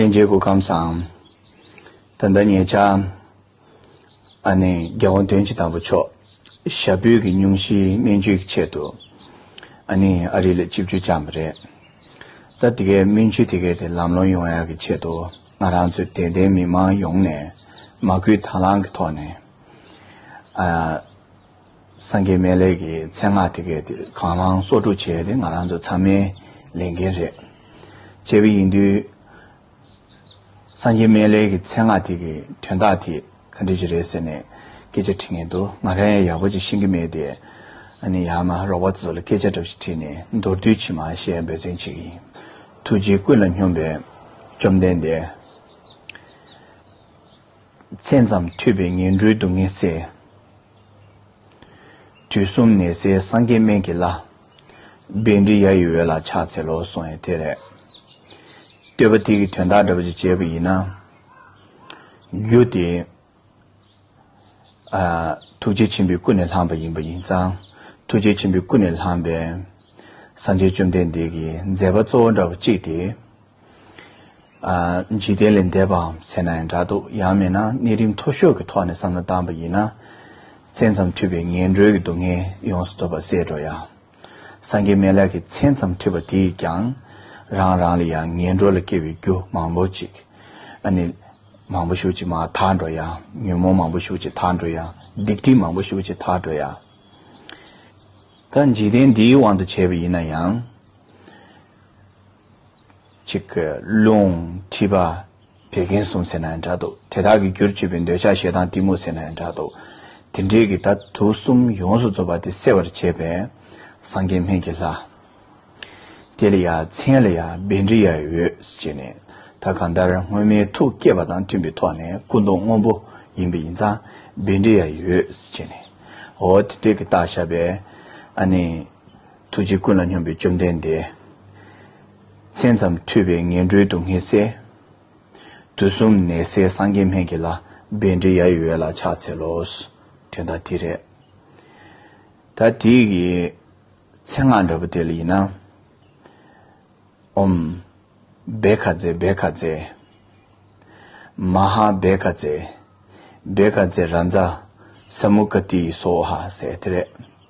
གླིང་རྗེའི་སྐུ་ཁམས་སམ། ད་ལྟ་ངེད་ཅག་ཨ་ནེ་རྒྱལ་བ་དོན་གཅིག་དམ་པ་མཆོག་ཞབས་པུས་ཀྱི་སྙུང་གཞིའི་སྨན་བཅོས་ཀྱི་ཆེད་དུ་ཨ་ནེ་ཨ་རི་ལ་སྤྱི་བཅོལ་བཅངས་པ་རེད། ད་དེ་གའི་སྨན་བཅོས་དེ་གའི་དེ་ལམ་ལྷོང་ཡོང་ཡག་གི་ཆེད་དུ་ང་རང་ཚོ་དད་ལྡན་མི་མང་ཡོངས་ནས་མ་སྐུལ་དྭང་བླང་གི་ཐོག་ནས་ཨ་སངས་རྒྱས་སྨན་ལས་ཀྱི་མཚན་སྔགས་དེ་གའི་དེར་གང་བླང་སོགས་དྲུག་བྱས་ཏེ་ང་རང་ཚོ་ཚང་མའི་ལས་འགན་རེད། བྱས་པ་ཡིན་དུས། སངས་རྒྱས་སྨན་ལས་ཀྱི་མཚན་སྔགས་དེ་གའི་དོན་དག་དེ་ག་འདྲི་ཅི་རེད་ཟེར་ནས་སྐད་ཆ་དྲི་ངེས་འདུག་ང་རང་ཡང་ཡག་པོ་ཅིག་ཤེས་ཀྱི་མེད་དེ། ཨ་ནི་ཡང་ན་རོགས་པ་ཚོ་ལ་སྐད་ཆ་འདྲ་ཞིག་དྲིས་ནས་མདོར་བསྡུས་ཕྱི་མ་ཞལ་འབོད་ཚན་བྱེད་ཀྱི་ཡིན། ཐུགས་རྗེ་ཀུན་ལ་སྙོམས་པའི་བཅོམ་ལྡན་འདས། མཚན་ཙམ་ཐོས་པས་ངན་འགྲོའི་སྡུག་བསྔལ་སེལ། དུས་གསུམ་ནད་སེལ་སངས་རྒྱས་སྨན་གྱི་བླ། རྦད་འདྲེ་ཡ་ཡི་འོད་ལ་ཕྱག་འཚལ་ལོ་གསུང་ཡང་དེ་རེད། བསྟོད་པ་དེ་གི་དོན་བདག་འདྲ་བ་ཅིག་བྱས་པ་ཡིན་ན། རྒྱུ་དེས། ཐུགས་རྗེ་ཆེན་པོའི་སྐུ་ནས་ལྷང་བ་ཡིན་པ་ཡིན་ཙང་ཐུགས་རྗེ་ཆེན་པོའི་སྐུ་ནས་ལྷང་བས། སངས་རྒྱས་བཅོམ་ལྡན་འདས་ཀྱི་མཛད་པ་གཙོ་བོ་འདྲ་བ་གཅིག་དེ་འཇིག་རྟེན་ལས་འདས་པའམ་ཟེར་ན་ཡང་འདྲ་འདུག་ཡང་མིན་ན་གནས་རིམ་མཐོ་ཤོས་ཀྱི་ཐོག་ནས་བསམ་བློ་བཏང་བ་ཡིན་ན། མཚན་ཙམ་མཐུད་པའི་ངན་འགྲོའི་སྡུག་བསྔལ་ཡོངས་སུ་རྫོགས་པར་ཟད་འགྲོ་ཡང། སངས་རྒྱས་མཎྜལ་གྱི་མཚན་ཙམ་མཐུད་པ་དེས་ཀྱང། རང་རང་ལ་ཡང་ངན་འགྲོ་ལ་སྐྱེ་བའི་རྒྱུ་མང་པོ་ཅིག། ཨ་ནི། མང་པོ་ཤུགས་ཅིག་མ་དག་འགྲོ་ཡང། ཉོན་མོངས་མང་པོ་ཤུགས་ཅིག་དག་འགྲོ་ཡང། སྡིག་སྒྲིབ་མང་པོ་ཤུགས་ཅིག་དག་འགྲོ་ཡང། ད་འཇིག་རྟེན་འདིའི་དབང་དུ་བྱས་པ་ཡིན་ན་ཡང། གཅིག་གི་རླུང་མཁྲིས་པ་བད་ཀན་གསུམ་ཟེར་ན་ཡང་འདྲ་འདུག་དེ་དག་གི་རྒྱུར་བཅོས་པའི་འདོད་ཆགས་ཞེ་སྡང་གཏི་མུག་ཟེར་ན་ཡང་འདྲ་འདུག་དེ་འདྲས་ཀྱི་ད་དུག་གསུམ་ཡོངས་སུ་རྫོགས་པ་དེ་སེལ་བར་བྱེད་པས་སངས་རྒྱས་སྨན་གྱི་ལྷ། དེ་ལ་ཡ་མཚན་ལ་ཡ་སྦལ་འདྲེ་ཡ་ཡོས་ཅེས་ནས་ད་གང་ལྟར་སྔོན་མའི་ཐུགས་བསྐྱེད་པ་དང་མཐུན་པའི་ཐོག་ནས་སྐུ་མདོག་སྔོན་པོ་ཡིན་པ་ཡིན་ཙང་སྦལ་འདྲེ་ཡ་ཡོས་ཅེས་ནས་འོ་དེ་འདྲས་ཀྱི་རྟགས་བཞག་པས་ཨ་ནི། ཐུགས་རྗེ་ཀུན་ལ་སྙོམས་པའི་བཅོམ་ལྡན་འདས། མཚན་ཙམ་ཐོས་པས་ངན་འགྲོའི་སྡུག་བསྔལ་བསལ། དུས་གསུམ་ནད་སེལ་སངས་རྒྱས་སྨན་གྱི་ལྷ། རྦད་འདྲེ་ཡ་ཡི་འོད་ལ་ཕྱག་འཚལ་ལོ། དོན་དག་དེ་རེད། ད་དེ་ཡི་མཚན་སྔགས་འདྲ་པོ་དེ་ལ་ཡིན་ན། ཨོམ། བེ་ཁ་ཛེ་བེ་ཁ་ཛེ། མ་ཧཱ་བེ་ཁ་ཛེ། བེ་ཁ་ཛེ་རཱ་ཛཱ། ས་མུ་ཀ་ཏི་ཡི་སོ་ཧཱ་ཟེར་དེ་རེད།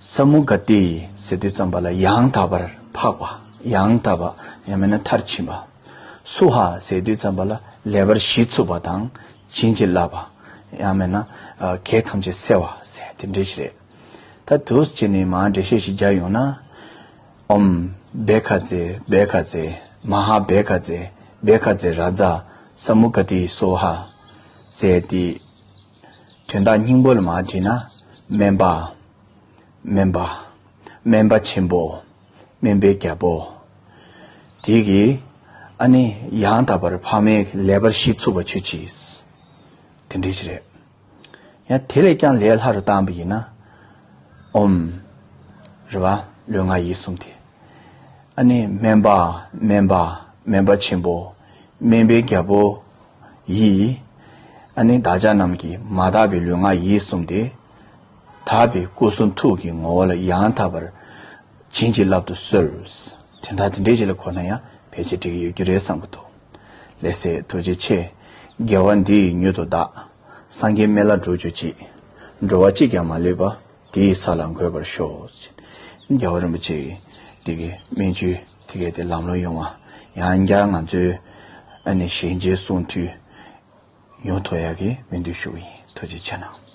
ས་མུ་ག་ཏི་ཟེར་དུས་ཙམ་པ་ལ་ཡང་དག་པར་འཕགས་པ་ཡང་དག་པ་ཡང་མེད་ན་མཐར་ཕྱིན་པ། སུ་ཧ་ཟེར་དུས་ཙམ་པ་ལ་ལེ་བར་གཞི་ཚུགས་པ་དང་བྱིན་གྱིས་བརླབས་པ་ཡང་མེད་ན་གེགས་ཐམས་ཅད་སེལ་བ་ཟེར་དེ་འགྲེལ་བྱེད་རེད། ད་དུས་ཀྱི་ནི་མ་འགྲེལ་བཤད་ཞིག་སྦྱར་ཡོང་ན། ཨོམ། བེ་ཁ་ཛེ་བེ་ཁ་ཛེ། མ་ཧ་བེ་ཁ་ཛེ་བེ་ཁ་ཛེ་རཱ་ཛཱ་ས་མུ་ག་ཏི་སུ་ཧ། ཟེར་དེ། དོན་དག་སྙིང་པོ་ལ་མ་དྲིས་ན། དམན་པ། དམན་པ། དམན་པ་ཆེན་པོ། དམན་པའི་རྒྱལ་པོ། དེ་གིས་ཨ་ནི་ཡང་དག་པར་འཕགས་མའི་ལས་པར་ཤིས་ཚུགས་པ་ཆོས་ཀྱིས། དེ་འདྲའི་ཕྱིར་རེད། ཡང་དེ་ལས་ཀྱང་ལས་ལྷ་རུ་བཏང་བ་ཡིན་ན། འོམ། རེད་བ། ལུས་ངག་ཡིད་གསུམ་དེ། ཨ་ནི་དམན་པ། དམན་པ། དམན་པ་ཆེན་པོ། དམན་པའི་རྒྱལ་པོ། ཡིས། ཨ་ནི་བདག་ཅག་རྣམས་ཀྱི་མ་དག་པའི་ལུས་ངག་ཡིད་གསུམ་སྟེ། དག་པའི་སྐུ་གསུང་ཐུགས་ཀྱི་ངོ་བོ་ལ་ཡང་དག་པར་བྱིན་གྱིས་བརླབ་ཏུ་གསོལ། དེ་དག་དེ་འདྲའི་རྗེས་ལ་འཁོར་ན་ཡང་ཕལ་ཆེར་འགྲིག་གི་ཡོད་རྒྱུ་རེད་བསམ་གྱི་འདུག་ལེགས་སེ་རྡོ་རྗེ་ཆེ། དགེ་བ་འདི་ཡིས་མྱུར་དུ་བདག། སངས་རྒྱས་མཎྜལ་འགྲོ་གྱུར་ཅིག། འགྲོ་བ་གཅིག་ཀྱང་མ་ལུས་པ། དེ་ཡི་ས་ལ་འགོད་པར་ཤོག། ཅེས་རྒྱལ་བ་རིན་པོ་ཆེའི་དེ་གའི་སྨན་བཅུའི། དེ་གལ་ཏེ་ལམ་ལོག་ཡོང་བ་ཡང་བསྐྱར་ང་ཚོའི་ཨ་ནེ་ཞལ་མཇལ་གསུང་དུས་ཡོང་ཐོ་ཡག་གི་མི་འདུག་ཞུ་གི་ཡིན་ཐུགས་རྗེ་ཆེ་གནང།